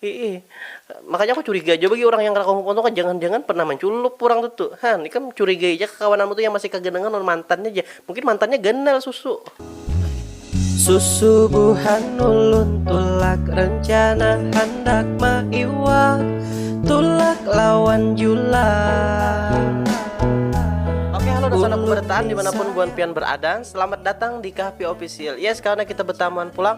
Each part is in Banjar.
Iih, makanya aku curiga jua bagi urang yang kada kawa move on tu, jangan-jangan pernah manculup urang tu tu. Han, ikam curigai ja kakawananmu tu yang masih kaganangan lawan mantannya ja, mungkin mantannya ganal susu. Susubuhan ulun tulak rencana handak maiwak tulak lawan julang. Oke halo dan salam kebertaan dimanapun buhan pian berada, selamat datang di Kahpi Official. Yes karena kita betamuan pulang.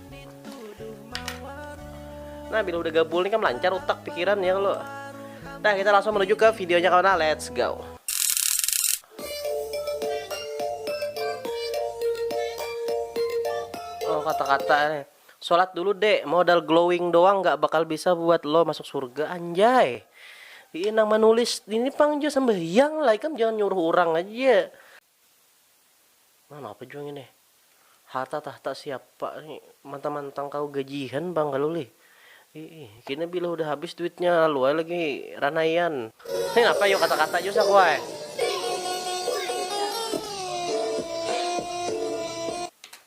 Nah, bila udah gabul nih kan lancar utak pikiran ya lo. Nah, kita langsung menuju ke videonya kawan. Nah, let's go. Oh, kata-kata nih. Sholat dulu dek, modal glowing doang nggak bakal bisa buat lo masuk surga anjay. Ini nang menulis ini pang jo sembahyang lah, ikam jangan nyuruh orang aja. Nah napa jua ngini harta tahta siapa ni mantang mantang kawa gajian pang kalu lih iih kini bila hudah habis duitnya lalu ai lagi ranaian ni napa yu kata kata jua saku ai.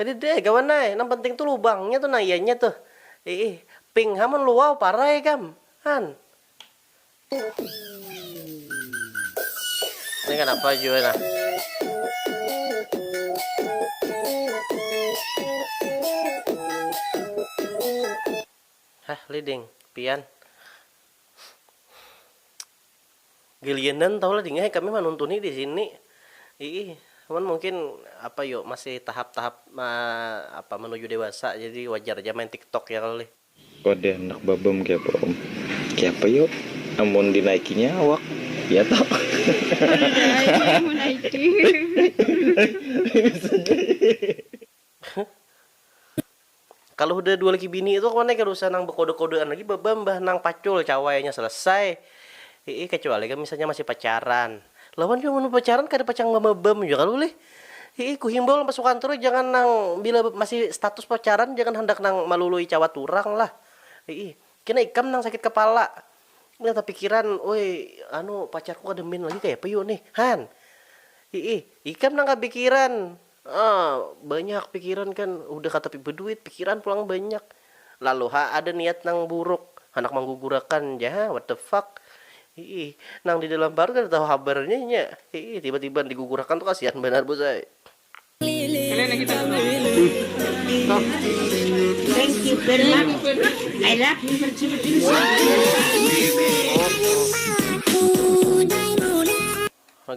Kadida ai kawan ai, nang penting tu lubangnya tu nah ianya tuh. Iih, pink ha mun luau parai kam. Han. Ini kanapa jua nah. Hah lih ding, pian. Gilianan tahu lah dingai kami manuntuni di sini iih cuman mungkin apa yu masih tahap-tahap apa menuju dewasa jadi wajar ja main tiktok ya kalo lih. Wadah handak babam keapa om. Keapa yu amun dinaikinya awak ya toh. Kada ai amun menaiki. Kalu hudah dua laki bini tu kemana kada usah nang bekode-kodean lagi baba mbah nang pacul cawainya selesai iih kecuali kam misalnya masih pacaran lawan jua mun bepacaran kada pacang bambam jua kalu lih iih kuhimbau lawan pasukan tu jangan nang bila masih status pacaran jangan handak nang malului cawat urang lah iih kena ikam nang sakit kepala nang tapikiran oi anu pacarku kada min lagi kayapa yu nih han iih ikam nang kapikiran. Haa, banyak pikiran kan, hudah katapi baduit, pikiran pulang banyak. Lalu ha ada niat nang buruk, handak manggugurakan ja ha, what the fuck. Hiih, nang di dalam parut kada tahu habarnya nya. Hiih, tiba-tiba digugurakan tu kasihan banar bos ai.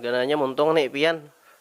Gananya muntung ni pian.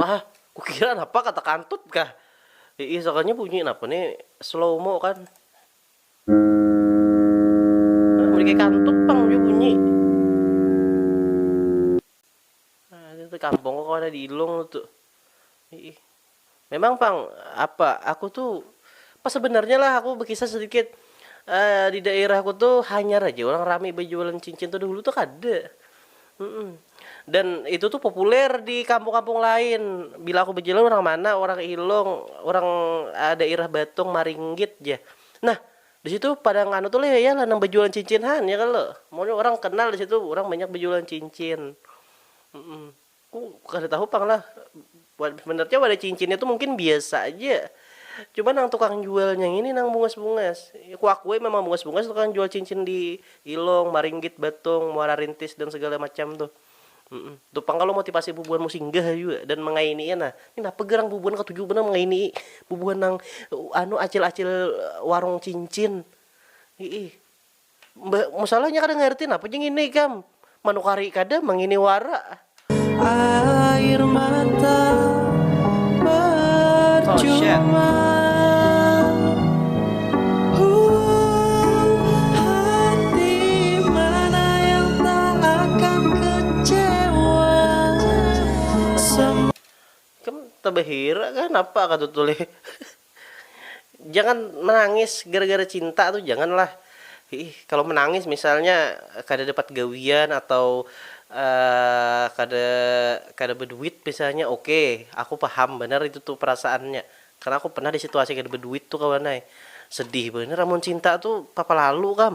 Mah, kukira napa kata kantut kah. Iih sakalinya bunyi napa ni slow mo kan. Nah, mending kaya kantut pang jua bunyi. Nah, itu kampungku kawan di Ilung tu. Iih, Memang pang, apa, aku tu pas sebenarnya lah aku bekisah sedikit di daerahku tu hanyar haja urang rami bajualan cincin tu dahulu tu kada dan itu tu populer di kampung-kampung lain bila aku bajalan urang mana urang ilung urang daerah batung maringgit ja nah di situ pada nganu tu lah ya lah nang bajualan cincin han ya kalo mun urang kenal di situ urang banyak bajualan cincin. Ku kada tahu pang lah, sebenarnya wadah cincinnya tu mungkin biasa aja, cuma nang tukang jualnya ngini nang bungas-bungas, ku akui memang bungas-bungas tukang jual cincin di Ilong, Maringgit, Batong, Muara Rintis dan segala macam tuh, itu pang kalo motivasi bubuhan mau singgah jua dan mengaininya nah, ni napa garang bubuhan katuju banar mengaini bubuhan nang anu acil-acil warung cincin. Mbah musalah nya kada ngarti napa nya ngini ikam manukari kada mangini wara. Air mata parcuma Huh hati mana yang tak akan kecewa Semua. Ikam tabahira kah napa kah tuh tulih. Jangan menangis gara-gara cinta tu jangan lah iih kalo menangis misalnya kada dapat gawian atau kada kada beduit misalnya ok aku paham banar itu tu perasaannya karena aku pernah di situasi kada beduit tu kawan ai sedih banar amun cinta tu papa lalu kam.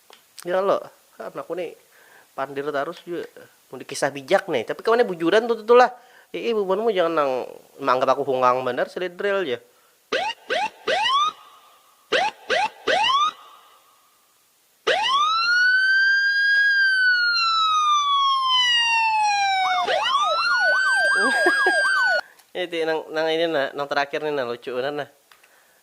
Ya lo, anakku ni pandir tarus jua mun di kisah bijak ni, tapi kawannya bujuran tuh tuh lah, iih bubuhanmu jangan nang maanggap aku hungang banar sledrel jar. Niti nang ini nah nang terakhir ni nah lucu banar nah.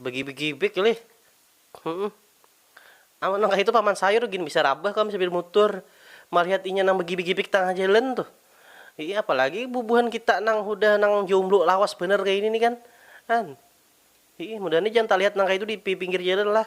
Begibik-gibik lih. Humm. Amun nang kahitu Paman Sayur gin bisa rabah kam sapir mutur malihat inya nang begibik-gibik tangah jalan tuh. Iih, apalagi bubuhan kita nang hudah nang jomblo lawas banar kaini nih kan. An. Iih, mudahan ni jangan talihat nang kahitu di pipinggir jalan lah.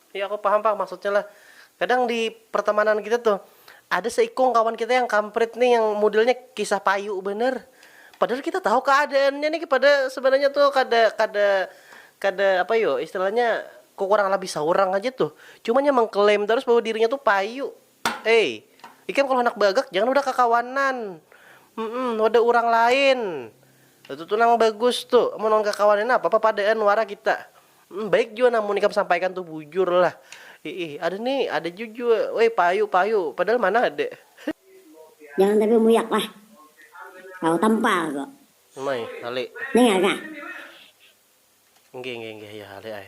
Iya aku paham pang maksudnya lah, kadang di pertemanan kita tuh ada seikung kawan kita yang kamprit nih yang modelnya kisah payu banar, padahal kita tahu keadaannya nih kepada sebenarnya tuh kada kada kada apa yu istilahnya kekurang labih seorang aja tuh, cuman yang mengklaim tarus bahwa dirinya tuh payu. Ei, ikam kalau handak bagak jangan wadah kakawanan, mm wadah urang lain, itu tu nang bagus tu, amun lawan kakawanan napa papadaan wara kita, mm baik jua nang mun ikam sampaikan tu bujur lah, iih ada ni ada ja jua woi payu payu padahal mana ada he. Jangan tapi muyak lah, tahu tampal ko. Umai, hale. Ningal kah? Inggih inggih inggih, ya hale ai.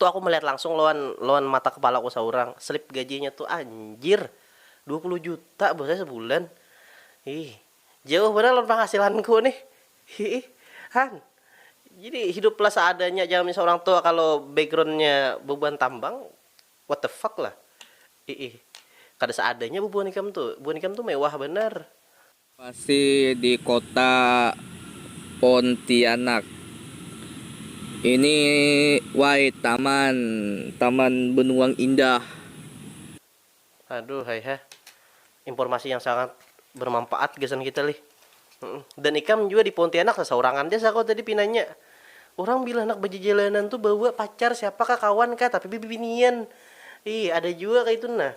Tu aku melihat langsung lawan lawan mata kepalaku saurang, slip gajinya tu anjir, dua puluh juta bos ai sebulan, hiih, jauh banar lawan penghasilanku nih, hiih, han, jadi hiduplah seadanya ja misalnya orang tua kalo backgroundnya bebuhan tambang, what the fuck lah, hiih, kada seadanya bebuhan ikam tu, buhan ikam tu mewah banar. Masih di kota Pontianak ini wai taman, taman benuang indah. Aduhai ha, informasi yang sangat bermanfaat gasan kita lih. Dan ikam jua di Pontianak sasaurangan ja sako tadi pinanya. Urang bila handak bajajalanan tu bawa pacar siapa kah kawan kah tapi bibinian. Ih ada jua kaitu nah.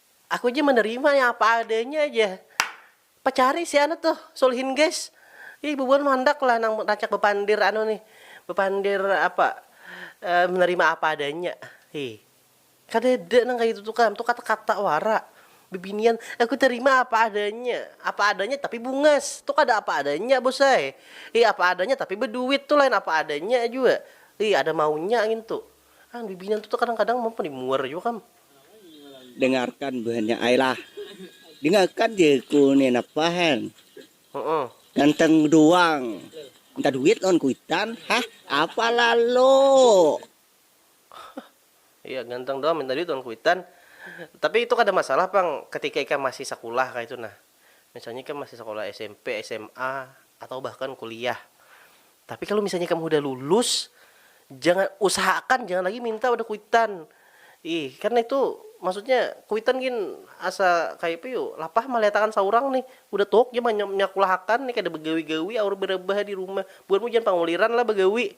Aku ja menerima yang apa adanya ja. Pacari si anu tuh, Sulhin guys. Ih bubuhan mah handak lah nang rancak bepandir anu nih, bepandir apa menerima apa adanya. Hih. Kadada nang kaya itu tuh kam, tuh kata-kata wara. Bibinian, aku terima apa adanya. Apa adanya tapi bungas, tuh kada apa adanya bos ai. Hih apa adanya tapi beduit tuh lain apa adanya jua. Hih ada maunya ngintu. Bibinian tuh kadang-kadang muar jua kam. Dengarkan buhannya ai lah. Dengarkan je ku ni napahan. Uh-uh. Ganteng doang. Minta duit lawan kuitan. Hah? Apa lalu? Iya, ganteng doang minta duit lawan kuitan. Tapi itu kada masalah pang ketika ikam masih sakulah kaitu nah. Misalnya ikam masih sakolah smp, sma, atau bahkan kuliah. Tapi kalu misalnya ikam hudah lulus, jangan, usahaakan jangan lagi minta pada kuitan. Ih, karna itu maksudnya kuitan gin asa kayapa yu, lapah malihatakan saurang nih. Hudah tuhuk ja manyakulahakan nih, kada bagawi-gawi aur barabah di rumah. Buhanmu jangan panguliran lah bagawi.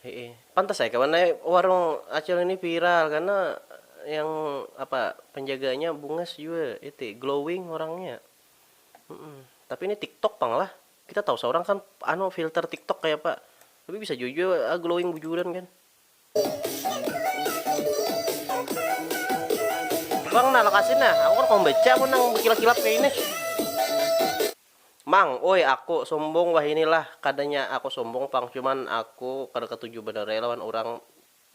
Hiih, pantas ai kawan ai warung acil ini viral karena yang apa penjaganya bungas jua itu glowing orangnya. Mm-mm. Tapi ini TikTok pang lah. Kita tahu seorang kan anu filter TikTok kayak apa. Tapi bisa jujur ah, glowing bujuran kan. Bang nah lokasi nah, aku kan mau baca pun nang berkilap-kilap kayak ini. Mang, uy aku sumbung wahini lah, kadanya aku sumbung pang cuman aku kada katuju banar ai lawan urang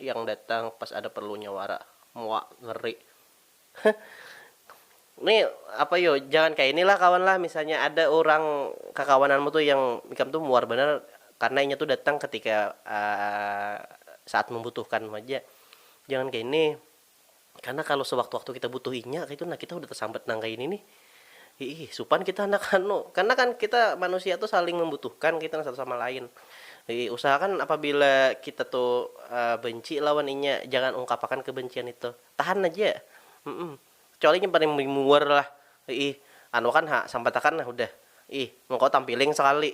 yang datang pas ada perlunya wara, muak ngeri. Heh ni apa yu jangan kaya ini lah kawan lah misalnya ada urang kakawananmu tu yang ikam tu muar banar karna inya tu datang ketika saat membutuhkanmu haja jangan kaya ini. Karena kalo sewaktu-waktu kita butuh inya kaitu nah kita hudah tasambat nang kaini nih. Hiih, supan kita handak anu. Karena kan kita manusia tu saling membutuhkan kaitu nah satu sama lain. Hiih, usahakan apabila kita tu benci lawan inya jangan ungkapakan kebencian itu. Tahan haja. Humm. Kecuali inya paling muar lah. Hiih, anuakan ha, sambatakan nah hudah. Hiih, mungkau tampiling sakali.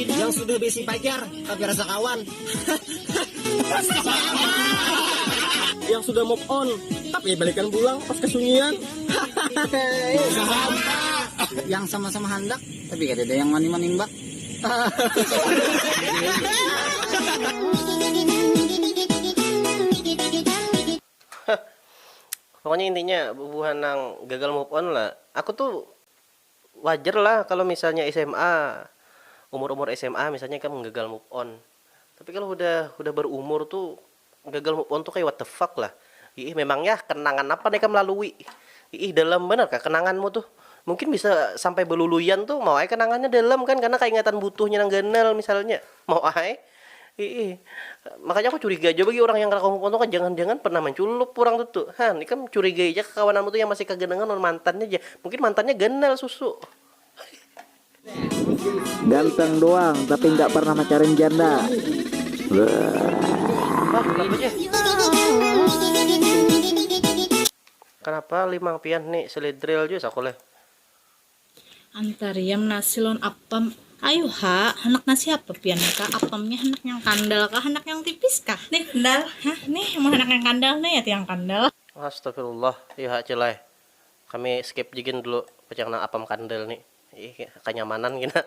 Yang sudah besi pacar tapi rasa kawan. Yang sudah move on tapi balikan pulang pas kesunyian. Yang sama-sama handak tapi kada ada yang wani manimbak. Pokoknya intinya bubuhan nang gagal move on lah aku tuh wajar lah kalo misalnya sma umur umur sma misalnya ikam gagal move on tapi kalo hudah hudah berumur tu gagal move on tu kaya what the fuck lah iih memang yah kenangan apa nang ikam lalui iih dalam banar kah kenangan mu tuh mungkin bisa sampai beluluian tuh mau ai kenangannya dalam kan karna kaingatan butuhnya nang ganal misalnya mau ai. Iih, makanya aku curiga jua bagi urang yang kada kawa move on tuh, jangan jangan pernah manculup urang tuh tuh, han ikam curigai ja kakawananmu tuh yang masih kaganangan lawan mantannya ja, mungkin mantannya ganal susu. Ganteng doang tapi nggak pernah macarin janda. Kenapa limang pian ni selidril jua saku leh. Antariam nasi lawan apam. Ayuh ha, handak nasi apa pian ni kak? Apamnya handak yang kandal kah handak yang tipis kah? Nih kandal. Hah nih mun handak yang kandal nah yati yang kandal. Astagfirullah yu ha cil ai, kami skip ja gin dulu pacang nang apam kandal ni, ih kanyamanan gin ha.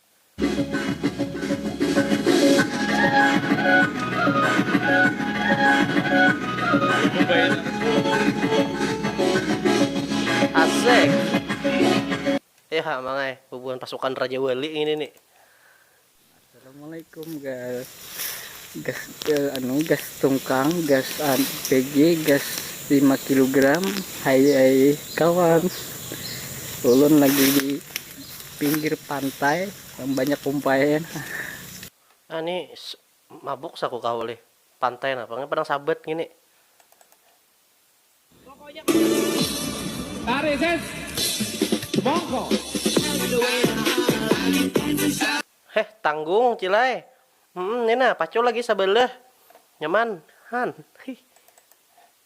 Asik. Ya ha mangai bubuhan pasukan Raja Wali ngini ni. Assalamualaikum gas gas anu gas tungkang gas PG gas lima kilogram hai hai kawan ulun lagi di Pinggir pantai yang banyak kumpainya nah. Nah ni mabuk sa ku kawa lih pantai nah pang padang sabat ngini. Tarik sis mongko. Heh tanggung cilai hmm ni nah pacul lagi sabalah nyaman han hih.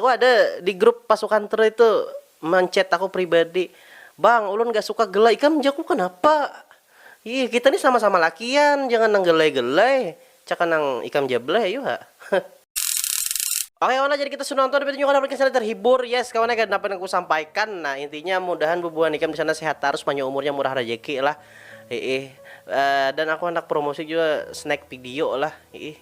Aku ada di grup pasukan True itu menchat aku pribadi, bang ulun gak suka gelai ikam jaku kenapa, ih kita nih sama sama lakian jangan nang gelai gelai caka nang ikam ja bleh ayu ha. Oke kawan lah jadi kita sudah nonton pitunjukan Harley Quinn sana terhibur yes kawan ya dapat aku sampaikan nah intinya mudahan bubuhan ikam disana sehat tarus panjang umurnya murah rajeki lah hiih dan aku handak promosi jua snack video lah hiih.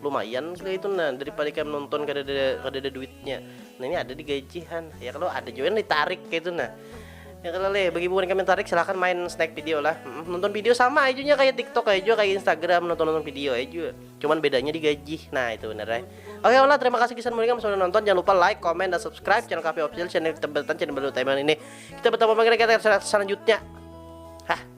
lumayan kali itu nah daripada kayak nonton kada ada kada ada duitnya nah ini ada di gajihan ya kalau ada juga yang ditarik kayak itu nah ya kalau leh bagi bukan kami tarik silahkan main snack video lah Mm, nonton video sama aja nya kayak tiktok aja juga kayak instagram nonton nonton video aja juga cuman bedanya digaji nah itu bener ya oke olah terima kasih kisan mulingam sudah nonton jangan lupa like comment dan subscribe channel kami official channel kita bertan channel baru Taiman ini kita bertemu lagi di kita selanjutnya hah